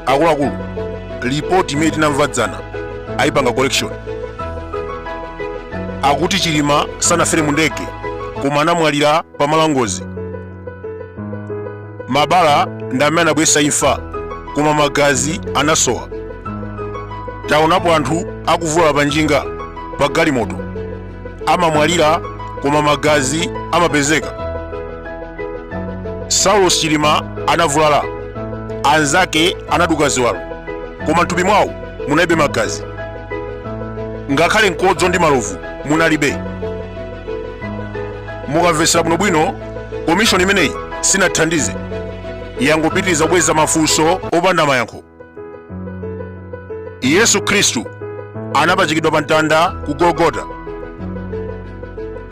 akuluakulu lipoti imene tinamva dzana ayipanga collection akuti chilima sanafere mu ndege koma anamwalira pa malo ngozi mabala ndi amene anabweretsa imfa koma magazi anasowa taonapo anthu akuvulala pa njinga pa galimoto amamwalira koma magazi amapezeka saulos chilima anavulala anzake anaduka ziwalo koma mthupi mwawo munalibe magazi ngakhale mkodzo ndi malovu munalibe mukamvetsera bwinobwino komishoni imeneyi sinathandize yangopitiriza kubweretsa mafunso opanda mayankho yesu khristu anapachikidwa pa mtanda ku gologota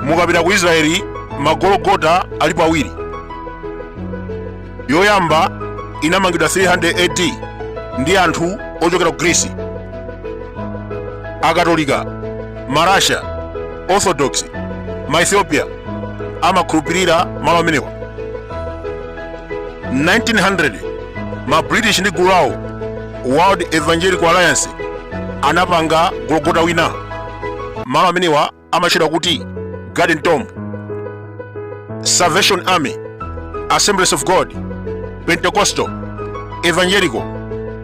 mukapita ku israeli magologota alipo awiri yoyamba inamangidwa 300 AD ndi anthu ochokera ku Greece. Akatolika, Marasha, Orthodox, ma Ethiopia amakhulupirira malo amenewa. 1900 ma british ndi gulu lawo world evangelical alliance anapanga gologota wina malo amenewa amatchedwa kuti garden tomb salvation army assemblies of god pentecostal evangelical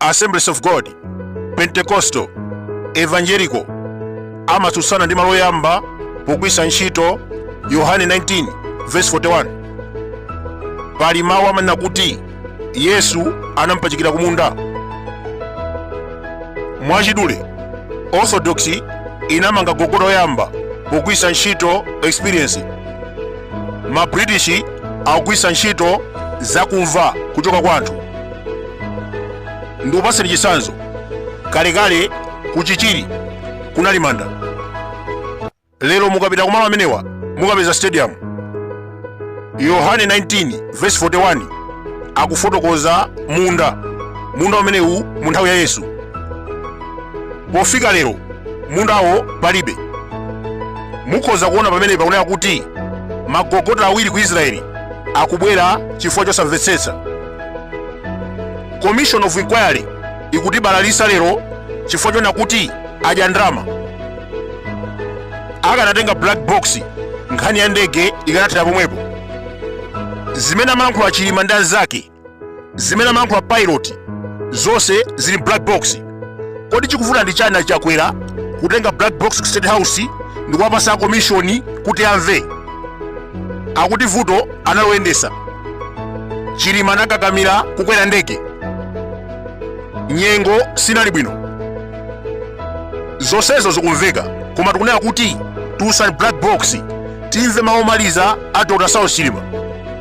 assemblies of god pentecostal evangelical amatsutsana ndi malo oyamba pogwiritsa ntchito yohane 19 verse 41 pali mawu amanena kuti yesu anampachikira kumunda mwachidule orthodox inamanga gologota oyamba pogwiritsa ntchito experience ma british akugwiritsa ntchito zakumva kuchoka kwa anthu ndikupatseni chitsanzo kalekale ku chichiri kunali manda lero mukapita kumalo amenewa mukapeza stadium yohane 19 verse 41 akufotokoza munda munda umenewu mu nthawi ya yesu pofika lero mundawo palibe mukhoza kuona pamene pakunenedwa kuti magologota awiri ku israeli akubwera chifukwa chosamvetsetsa commission of inquiry ikutibalalisa lero chifukwa choona kuti adya ndalama akanatenga black box nkhani ya ndege ikanathera pomwepo zimene amalankhula chilima ndi anzake zimene amalankhula pilot zonse zili mu black box kodi chikuvuta ndi chani achakwera kutenga black box ku state house ndi kuwapasa komishoni kuti amve akuti vuto analoyendesa chilima anakakamira kukwera ndege nyengo sinali bwino zonsezo zikumveka koma tikunena kuti tulutsani black box timve mawu omaliza a dr saulos chilima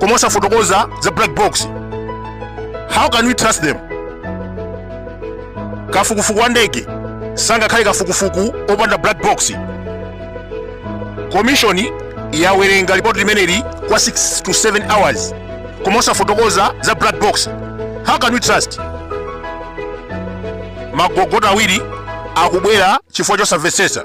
koma osafotokoza za black box how can we trust them kafukufuku wa ndege sangakhale kafukufuku wopanda black box komishoni yawerenga lipoti limeneli kwa 6 to 7 hours koma osafotokoza za black box how can we trust magogoto awiri akubwera chifukwa chosamvetsetsa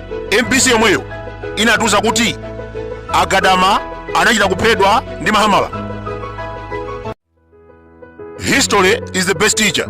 mbc yomweyo inatiuza kuti a Gadama anachita kuphedwa ndi mahamala history is the best teacher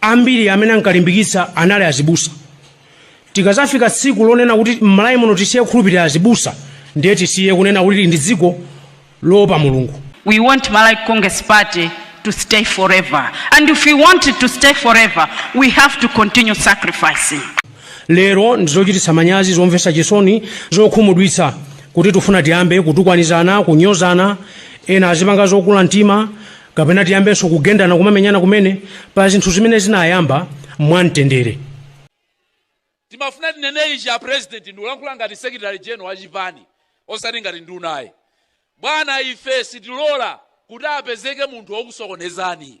Ambiri amene ankalimbikitsa anali azibusa. Tikadzafika tsiku lonena kuti m'Malawi muno tisiye kukhulupirira azibusa, ndiye tisiye kunena kuti tili ndi dziko loopa Mulungu. We want Malawi Congress Party to stay forever and if we want it to stay forever we have to continue sacrificing. Lero ndi zochititsa manyazi, zomvetsa chisoni, zokhumudwitsa kuti tifuna tiyambe kutukwanizana, kunyozana, ena azipanga zokula mtima, kapena tiyambenso kugendana kumamenyana kumene pa zinthu zimene zinayamba mwamtendere timafuna tinene ichi a president ndikulankhula ngati secretary general wa chipani osati ngati nduna ayi bwana ife sitilola kuti apezeke munthu wokusokonezani